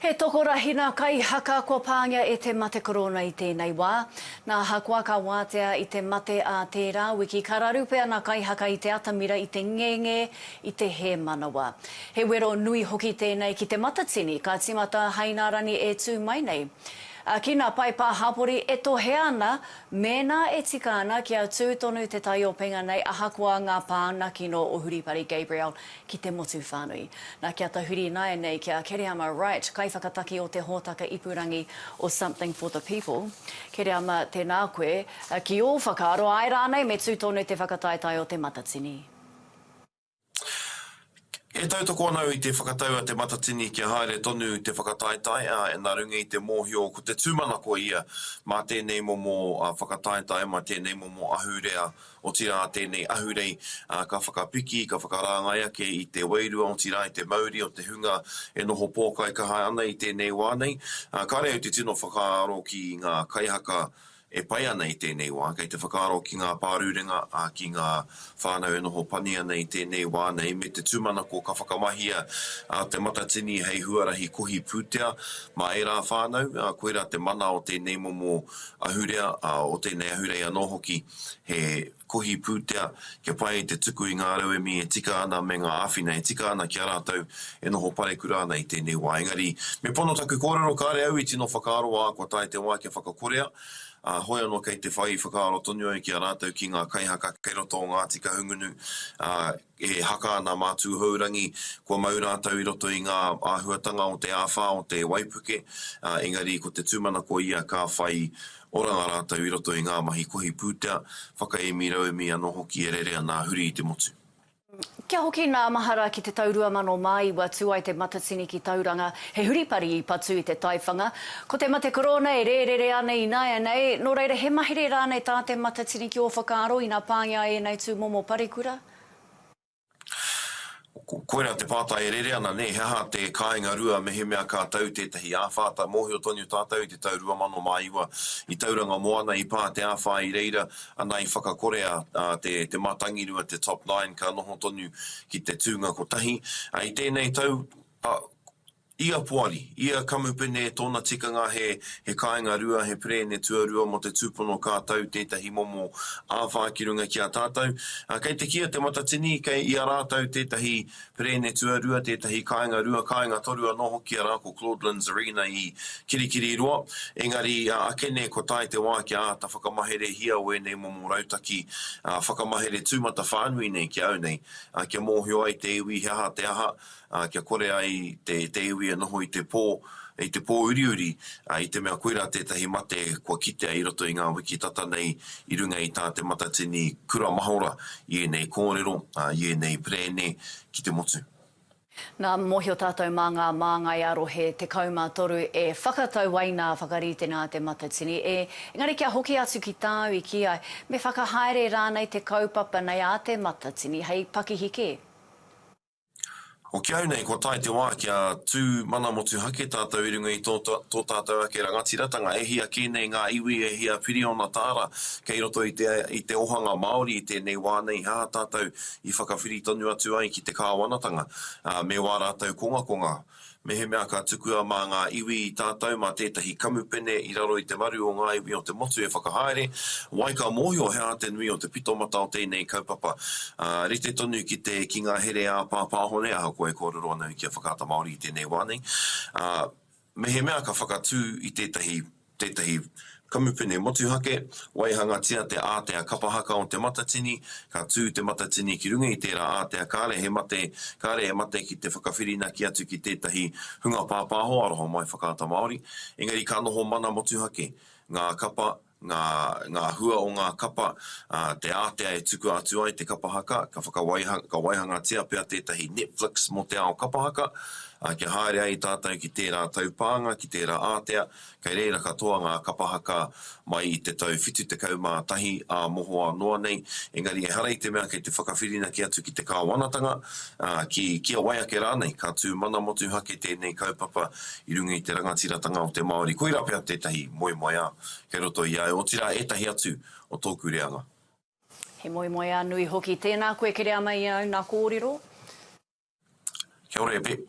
He tokorahina kaihaka kua pāngia e te mate korona i tēnei wā. Nā Ahakoa ka wātea i te mate ā tērā wiki ka raru pea ngā kaihaka i te atamira i te ngenge i te hēmanawa. He wero nui hoki tēnei ki Te Matatini ka tīmata hai ngā rangi e tū mai nei. Ki ngā paepa hapori e tohea ana mēnā e tika ana kia tū tonu te taiopenga nei ahakoa ngā pānga kino o Huripari Gabriel ki te motu whānui. Nā, kia tahuri ināianei ki a Kereama Wright, kaiwhakataki o te hōtaka ipurangi o Something for the People. Kereama, tēnā koe. Ki ō whakaaro, āe rānei, me tū tonu te whakataetae o Te Matatini? E tautoko ana au i te whakatau a Te Matatini kia haere tonu te whakataetae, ā, nā runga i te mōhio ko te tūmanako ia mā tēnei momo whakataetae, mā tēnei momo ahurea, Otirā tēnei ahurei ka whakapiki, ka whakarāngai ake i te wairua otirā i te mauri o te hunga e noho pōkai kaha ana i tēnei wā nei. Kāre au te tino whakaaro ki ngā kaihaka e pai ana i tēnei wā, kei te whakaaro ki ngā pārurenga, ki ngā whānau e noho pani ana i tēnei wā nei, me te tūmanako ka whakamahia te matatini hei huarahi kohi pūtea mā ērā whānau, koirā te mana o tēnei momo Ahurea, ā, o tēnei ahurei anō hoki he kohi pūtea kia pai ai te tuku i ngā rauemi e tika ana me ngā āwhina e tika ana ki a rātou e noho parekura ana i tēnei wā. Engari, me pono taku kōrero, kāre au i tino whakaaro, ā, kua tae te wā kia whakakorea, ā, hoi anō kei te whai whakaaro tonu au ki a rātou, ki ngā kaihaka kei roto o Ngāti Kahungunu, ā, E haka ana mā Tūhourangi kua mau rātou i roto i ngā āhuatanga o te āwhā o te waipuke, ā, engari ko te tūmanako ia ka whai oranga rātou i roto i ngā mahi kohi pūtea, whakaemi rauemi anō hoki e rere ana a Huri i te motu. Kia hoki nā mahara ki te tau 2009 ua tū ai te Matatini ki Tauranga, He huripari i patu i te taiwhanga, ko te mate korōna e rērere ana ināianei, nō reira he mahere rānei tā Te Matatini ki ō whakaaro ina pāngia ai ēnei tūmomo parekura? Koirā te pātai e rere ana, nē, he aha te kāinga rua mehemea ka tau tētahi āwhā? Tae mōhio tonu tātou i te tau 2009, i Tauranga Moana, i pā te āwhā i reira, ana i whakakore a Te Mātangirua, te Top Nine, ka noho tonu ki te tūnga kotahi. I tēnei tau, A, ia poari, ia kamupene tōna tikanga he he kāinga rua, he perēne tuarua mō te tūpono ka tau tētahi momo āwhā ki runga ki a tātou. A, kei te kīa te Matatini, kei i a rātou tētahi perēne tuarua, tētahi kāinga rua, kāinga toru anō hoki arā ko Claude Linzarina i Kirikiriroa. Engari, a, akene kua tae te wā kia āta whakamaherehia wēnei momo rautaki, a, whakamahere tūmatawhānui nei ki a au nei, a, kia mōhio ai te iwi he aha te aha, ā, kia kore ai te, te iwi e noho i te pō, i te pō uriuri, ā, i te mea koirā tētahi mate kua kitea i roto i ngā wiki tata nei i runga i tā Te Matatini Kura Mahora i ēnei kōrero, ā, i ēnei perēne ki te motu. Nā, mōhio tātou mā ngā māngai a rohe 13 e whakatau ai nā Whakaritenga a Te Matatini, ē, engari kia hoki atu ki tāu i kī ai, me whakahaere rānei te kaupapa nei a Te Matatini hei pakihi kē? Hoki au nei kua tae te wā kia tū mana motuhake tātou i runga i tō, tō tātou ake rangatiratanga, e hia kē nei ngā iwi, e hia piriona tāra kei roto i te, i te ohanga Māori i tēnei wā nei, he aha tātou i whakawhiri tonu atu ai ki te kāwanatanga, ā, me wā rātou kongakonga. Mehemea ka tukua mā ngā iwi i tātou mā tētahi kamupene i raro i te maru o ngā iwi o te motu e whakahaere, wai ka mōhio he aha te nui o te pitomata o tēnei kaupapa, ā, rite tonu ki te, ki ngā here ā-pāpāhone, ahakoa e kōrero ana au ki a Whakaata Māori i tēnei wā nei, ā, mehemea ka whakatū i tētahi. tētahi kamupene motuhake, waihangatia te ātea kapa haka o te matatini, ka tū te matatini ki runga i tērā ātea kāre he mate, kāre he mate ki te whakawhirinaki atu ki tētahi hunga pāpāho aroha mai Whakaata Māori, engari ka noho mana motuhake ngā kapa, ngā, ngā hua o ngā kapa, ā, te ātea e tukua atu ai te kapa haka, ka whakawaiha, ka waihangatia pea tētahi Netflix mō te ao kapa haka, ā, kia haere ai tātou ki tērā taupānga, ki tērā ātea, Kei reira katoa ngā kapa haka mai i te tau 71 ā mohoa noa nei, engari ehara i te mea kei te whakawhirinaki atu ki te kāwanatanga, ā, ki kia wai ake rānei, ka tū mana motuhake tēnei kaupapa i runga i te rangatiratanga o te Māori. Koirā pea tētahi moemoeā kei roto i a au, otirā ētahi atu o tōku reanga. He moemoeā nui hoki. Tēnā koe Kereama i au, nā kōrero. Kia ora e Pep.